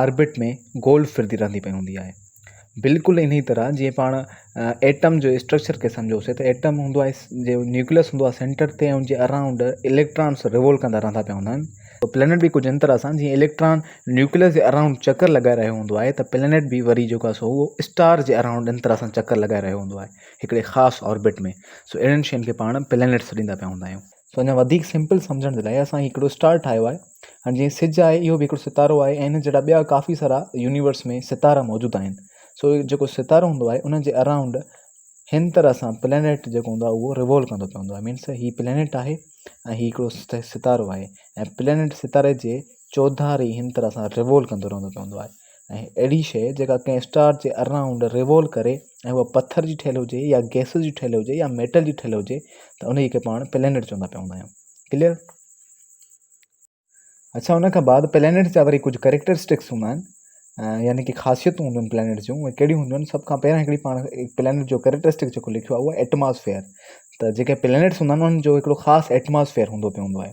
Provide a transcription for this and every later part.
Orbit ۾ گول ڦرندي رهندي پئي هوندي آهي بلڪل انهي طرح جيئن پاڻ ايٽم جو اسٽرڪچر کي سمجهوسي ته ايٽم هوندو آهي جيئن نيوڪليس هوندو آهي سينٽر تي ان جي اراؤنڊ اليڪٽرانس ريوولو ڪندا رهندا پيا هوندا آهن پلينٽ به ڪجهه ان طرح سان جيئن اليڪٽران نيوڪليس جي اراؤنڊ چڪر لڳائي رهيو هوندو آهي ته پلينٽ به وري جيڪو آهي سو اسٽار جي اراؤنڊ ان طرح سان چڪر لڳائي رهيو هوندو آهي هڪڙي خاص آربٽ ۾ سو اهڙن شين کي پاڻ پلينٽ سڏيندا پيا هوندا آهيون سو اڃا وڌيڪ سمپل سمجهڻ جي لاء اسان هي هڪڙو اسٽار ٺاهيو آهي ۽ جيئن سج آهي اهو به هڪڙو ستارو آهي ۽ ان جهڙا ٻيا ڪافي سارا يونيورس ۾ ستارا موجود آهن سو جيڪو ستارو هوندو آهي ان جي اراؤنڊ هن طرح سان پلينيٽ جيڪو هوندو آهي اهو ريوولو ڪندو پيو هوندو آهي مينس هي پلينيٽ آهي ۽ هي هڪڙو ستارو آهي ۽ پلينيٽ ستاري جي چوڌاري هن طرح سان ريوولو ڪندو رهندو پيو هوندو آهي ۽ اهڙي شيء جيڪا ڪنهن اسٽار جي اراونڊ ريوول ڪري ۽ اها پٿر جي ٺهيل هجي يا گئسز جي ٺهيل هجي يا ميٽل جي ٺهيل هجي ته انهيء کي پاڻ پلينيٽ چوندا پيا هوندا آهيون ڪليئر اڇا ان کان بعد پلينيٽس جا وري ڪجهه ڪريڪٽرسٽڪس هوندا آهن يعني ڪي خاصيتون هونديون آهن پلينيٽس جون اهي ڪهڙيون هونديون آهن سڀ کان پهريان هڪڙي پاڻ پلينيٽ جو ڪريڪٽرسٽڪ جيڪو لکيو آهي اهو ايٽماسفيئر ته جيڪي پلينيٽس هوندا آهن انهن جو هڪڙو خاص ايٽماسفيئر هوندو پيو هوندو آهي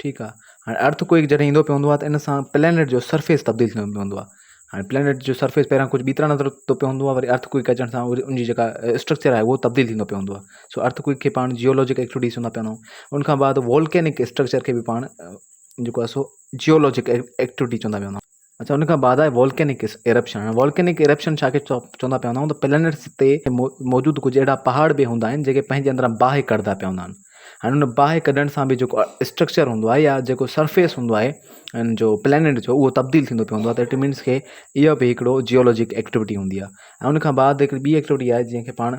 ٺيڪ آ هاڻي ارٿ ڪوئڪ جڏهن ايندو پيو هوندو آ ته ان سان پلينٽ جو سرفيس تبديل ٿيندو پيو هوندو آ هاڻي پلينٽ جو سرفيس پهريان ڪجهه ٻي طرح نظر اچتو پيو هوندو آ وري ارٿ ڪوئڪ اچڻ سان ان جي جيڪا اسٽرڪچر آهي اهو تبديل ٿيندو پيو هوندو آ سو ارٿ ڪوئڪ کي پاڻ جيولوجڪ ايڪٽوٽي چوندا پيا وڃون ان کان بعد وولڪينڪ اسٽرڪچر کي به پاڻ جيڪو آ سو جيولوجڪ ايڪٽوٽي چوندا پيا وڃون اڇا ان کان بعد آهي والڪينڪ ايرپشن هاڻي والڪينڪ ايرپشن ڇا کي چوندا پيا هوندا آهيون ته پلينٽس تي موجود ڪجهه اهڙا پهاڙ به هوندا آهن جيڪي پنهنجي اندران باهه ڪڍندا پيا هوندا آهن هاڻي ان باهه ڪڍڻ سان به جيڪو اسٽرڪچر هوندو آهي يا جيڪو سرفيس هوندو آهي ان جو پلينٽ جو اهو تبديل ٿيندو پيو هوندو آهي ته اٽ مينس کي اهو به هڪڙو جيولوجڪ ايڪٽيوٽي هوندي آهي ۽ ان کان بعد هڪڙي ٻي ايڪٽيوٽي آهي جنهن کي پاڻ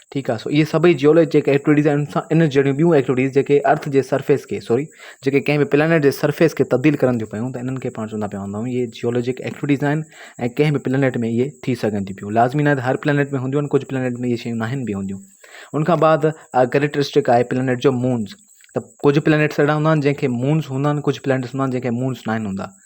ٺيڪ آ سو اهي سڀئي جيولوجي جيڪي ايڪٽويٽيز آهن سا ان جهڙيون ٻيون ايڪٽويٽيز جيڪي ارٿ جي سرفيس کي سوري جيڪي ڪنهن به پلانيٽ جي سرفيس کي تبديل ڪرن ٿيون پيون ته انهن کي پاڻ چوندا پيا هونداؤن اهي جيولوجڪ ايڪٽويٽيز آهن ۽ ڪنهن به پلانيٽ ۾ اهي ٿي سگهن ٿي پيون لازمي ناهي ته هر پلانيٽ ۾ هونديون آهن ڪجهه پلانيٽ ۾ اهي شيون ناهن به هونديون ان کان بعد ڪريڪٽرسٽڪ آهي پلانيٽ جو مونز ته ڪجهه پلانيٽس اهڙا هوندا آهن جنهن کي مونز هوندا آهن ڪجهه پلانيٽس هوندا آهن جنهن کي مونز ناهن هوندا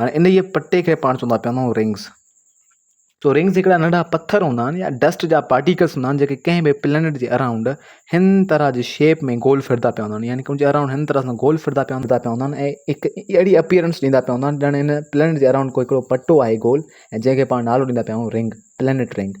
هاڻي انهيء پٽي کي پاڻ چوندا پيا هوندائون رنگز. سو رنگز هڪڙا ننڍا پٿر هوندا آهن يا ڊسٽ جا پارٽيڪلز هوندا آهن جيڪي ڪنهن به پلينيٽ جي اراؤنڊ هن طرح جي شيپ ۾ گول ڦرندا پيا هوندا آهن يعني ان جي اراؤنڊ هن طرح سان گول ڦرندا پيا هوندا آهن ۽ هڪ اهڙي اپيئرنس ڏيندا پيا هوندا آهن ڄڻ هن پلينيٽ جي اراؤنڊ ڪو هڪڙو پٽو آهي گول ۽ جنهن کي پاڻ نالو ڏيندا پيا آهيون رنگ، پلينيٽ رنگ.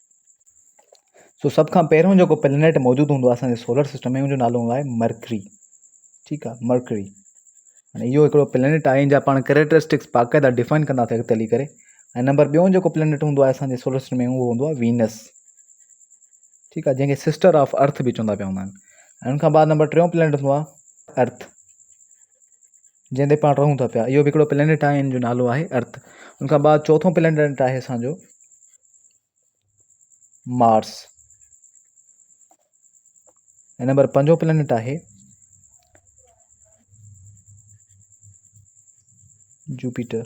سو سڀ کان پهريون جيڪو پلانيٽ موجود هوندو آهي اسان جي سولر سسٽم ۾ ان جو نالو هوندو آهي مرڪري ٺيڪ آهي مرڪري هاڻي اهو هڪڙو پلانيٽ آهي جا پاڻ ڪريڪٽرسٽڪس باقاعده ڊيفائن ڪنداسي اڳتي هلي ڪري ۽ نمبر ٻيو جيڪو پلانيٽ هوندو آهي اسان جي سولر سسٽم ۾ اهو هوندو آهي وينس ٺيڪ آهي جنهن کي سسٽر آف ارٿ به چوندا پيا هوندا آهن ۽ ان کان بعد نمبر ٽيون پلانيٽ هوندو آهي ارٿ جنهن تي پاڻ رهون ٿا پيا اهو به هڪڙو پلينٽ آهي ان جو نالو آهي ارٿ ان کان بعد چوٿو پلينٽ آهي اسانجو مارس ۽ نمبر پنجو پلينٽ آهي جوپيٽر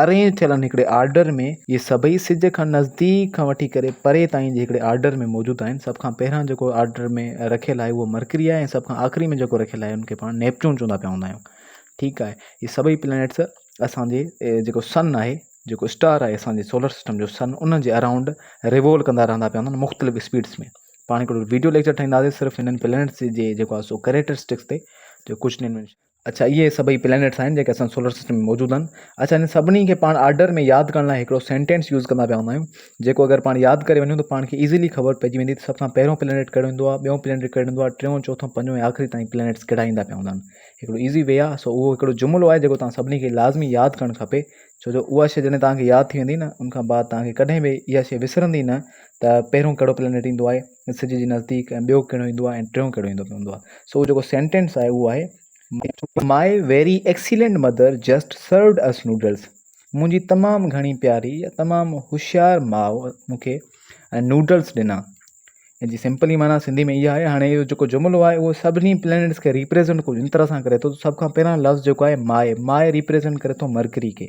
ارينج ٿيل هڪڙي آرڊر ۾ اهي سڀئي سج کان نزديڪ کان وٺي ڪري پري تائين جي هڪڙي آرڊر ۾ موجود آهن. سڀ کان پهريان جيڪو آرڊر ۾ رکيل آهي اهو مرڪري آهي ۽ سڀ کان آخري ۾ جيڪو رکيل آهي ان کي پاڻ نيپچون چوندا پيا هوندا آهيون. ٺيڪ آهي اهي سڀئي پلينيٽس اسان جي جيڪو سن آهي جيڪو اسٽار آهي اسان جي سولر سسٽم جو سن ان جي اراؤنڊ ريوول ڪندا رهندا پيا هوندا آهن مختلف اسپيڊس ۾ پاڻ هڪڙو ويڊيو ليڪچر ٺاهينداسي صرف هنن پلينيٽس جي جيڪو آهي سو ڪريٽرسٽڪس تي جو ڪجهه اڇا اهي سڀئي پلينيٽس آهن جيڪي اسان سولر سسٽم ۾ موجود آهن اڇا انهن سڀني کي پاڻ آرڊر ۾ ياد ڪرڻ لاء هڪڙو سينٽينس يوز ڪندا پيا هوندا آهيون جيڪو اگر پاڻ ياد ڪري وڃون ته پاڻ کي ايزلي خبر پئجي ويندي ته سڀ کان پهريون پلينيٽ ڪهڙو ايندو آهي ٻيون پلينيٽ ڪهڙو ايندو آهي ٽيون چوٿون پنجون ۽ آخري تائين پلينيٽس ڪهڙا ايندا پيا هوندا آهن هڪڙو ايزي وي آهي سو اهو هڪڙو جملو آهي جيڪو توهان سڀني کي لازمي ياد ڪرڻ کپي ڇو جو اها شي جڏهن توهان کي ياد ٿي ويندي نه ان کان بعد توهان کي ڪڏهن به اها شي وسرندي نه ته پهريون ڪهڙو پلينيٽ ايندو آهي سج جي نزديڪ ۽ ٻيو ڪهڙو ايندو آهي ۽ ٽيون ڪهڙو ايندو پوندو آهي. سو جيڪو سينٽينس آهي اهو آهي. My very excellent mother just served us noodles منهنجي تمام گهڻي پياري يا تمام هوشيار ماء مون کي نوڊلس ڏنا. ان جي سمپلي معنيٰ سنڌي ۾ اها آهي. هاڻي اهو جيڪو جملو آهي اهو سڀني پلينيٽس کي ريپريزنٽ ڪجهه ان طرح سان ڪري ٿو ته سڀ کان پهريان لفظ جيڪو آهي ماء ماء ريپريزنٽ ڪري ٿو مرڪري کي.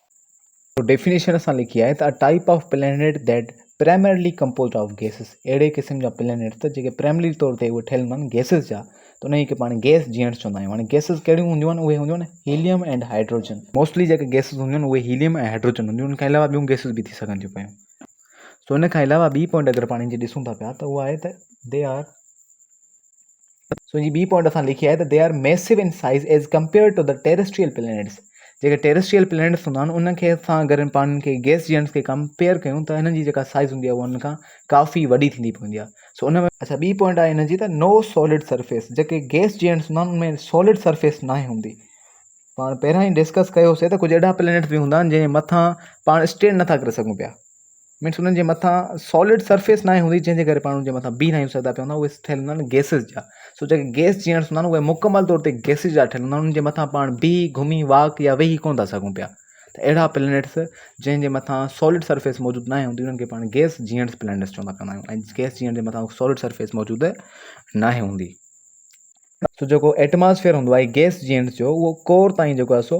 تو ڊيفينيشن اسان لکي آهي ته a type of planet that primarily composed of gases اهڙي قسم جا پلينيٽ ته جيڪي پرائمرلي طور تي اهي ٺهيل هوندن گيسز جا ته انهي کي پاڻ گيس جيئڻ چوندا آهيون هاڻي گيسز ڪهڙيون هونديون آهن اهي هونديون آهن هيليم اينڊ هائيڊروجن موسٽلي جيڪي گيسز هونديون آهن اهي هيليم ۽ هائيڊروجن هونديون ان کان علاوه ٻيون گيسز به ٿي سگهن ٿيون پيون سو ان کان علاوه ٻي پوائنٽ اگر پاڻ جي ڏسون ٿا پيا ته اها آهي ته دي آر سوجي ٻي پوائنٽ اسان لکي آهي ته they are massive in size as compare to the terrestrial planets جيڪي ٽيرسٽريل پلانيٽس هوندا آهن انهن کي اسان اگر پاڻ کي گيس جيئنس کي ڪمپيئر ڪيون ته هنن جي جيڪا سائز هوندي آهي انهن کان ڪافي وڏي ٿيندي پوندي آهي سو ان ۾ اچھا ٻي پوائنٽ آهي هن جي ته نو سولڊ سرفيس جيڪي گيس جيئنس هوندا آهن ان ۾ سولڊ سرفيس ناهي هوندي پاڻ پهريان ئي ڊسڪس ڪيوسي ته ڪجهه اهڙا پلانيٽس به هوندا آهن جنهن مٿان پاڻ اسٽينڊ نٿا ڪري سگهون پيا مينس انهن جي مٿان سالڊ سرفيس ناهي هوندي جنهن جي ڪري پاڻ ان جي مٿان بيهه ناهي سگهندا پيا هوندا اهي ٺهيل هوندا آهن گيسز جا سو جيڪي گيس جي هوندا آهن اهي مڪمل طور تي گيسز جا ٺهيل هوندا آهن ان جي مٿان پاڻ بيهي گهمي واڪ يا ويهي ڪونه ٿا سگهون پيا ته اهڙا پلينيٽس جنهن جي مٿان سالڊ سرفيس موجود ناهي هوندي انهن کي پاڻ گيس جيئنٽس پلينيٽس چوندا پيا آهيون ۽ گيس جيئنٽ جي مٿان سالڊ سرفيس موجود ناهي هوندي سو جيڪو ايٽماسفيئر هوندو آهي گيس جينٽس جو اهو ڪور تائين جيڪو آهي سو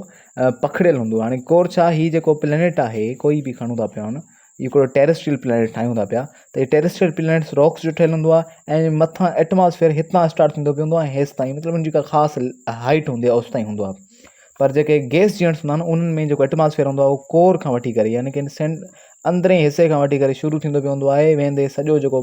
پکڙيل هوندو آهي هاڻي ڪور ڇا هي جيڪو پلينيٽ آهي ڪوئي به کڻون ٿا پيا هن هڪڙو ٽيريسٽريل پلينيٽ ٺاهيون ٿا پيا ته هي ٽيريسٽريل پلينيٽس راڪس جو ٺهيل هوندو آهي ۽ مٿان ايٽماسفيئر هتان اسٽارٽ ٿيندو پيو هوندو آهي هيس تائين مطلب ان جي ڪا خاص هائيٽ هوندي آهي اوس تائين هوندو آهي پر جيڪي گيس جينٽس هوندا آهن انهن ۾ جيڪو ايٽماسفيئر هوندو آهي اهو ڪور کان وٺي ڪري يعني ڪن سينٽ اندرين حصي کان وٺي ڪري شروع ٿيندو پيو هوندو آهي ويندي سڄو جيڪو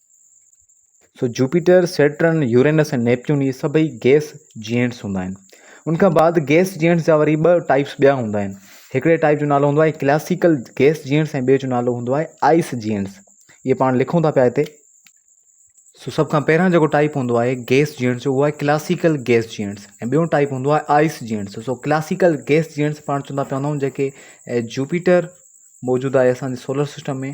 so Jupiter, Saturn, Uranus ۽ Neptune هي سڀئي گيس جيئنٽس هوندا آهن. ان کان بعد گيس جيئنٽس جا وري ٻه ٽائيپس ٻيا هوندا آهن. هڪڙي ٽائيپ جو نالو هوندو آهي ڪلاسيڪل گيس جيئنٽس ۽ ٻئي جو نالو هوندو آهي آئس جيئنٽس. اهي پاڻ لکون ٿا پيا هتي. سو سڀ کان پهريان جيڪو ٽائيپ هوندو آهي گيس جيئنٽس جو اهو آهي ڪلاسيڪل گيس جيئنٽس ۽ ٻيو ٽائيپ هوندو آهي ice giants. So classical gas giants پاڻ چوندا پيا هوندا آهيون جيڪي جوپيٽر موجود آهي اسان جي سولر سسٽم ۾.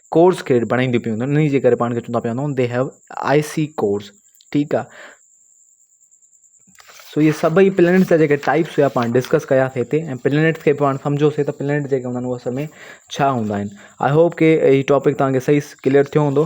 ڪورس ڪريڊٽ بڻائيندي پيون وڃن انهي جي ڪري پاڻ کي چوندا پيا وڃون the have I C course ٺيڪ آ سو اهي سڀئي پلينيٽس جا جيڪي ٽائپس هيا پاڻ ڊسڪس ڪياسي هتي ۽ پلينيٽس کي پاڻ سمجهيوسي ته پلينيٽ جيڪي هوندا آهن اهي اصل ۾ ڇا هوندا آهن I hope K he topic توهان کي صحيح ڪليئر ٿيو هوندو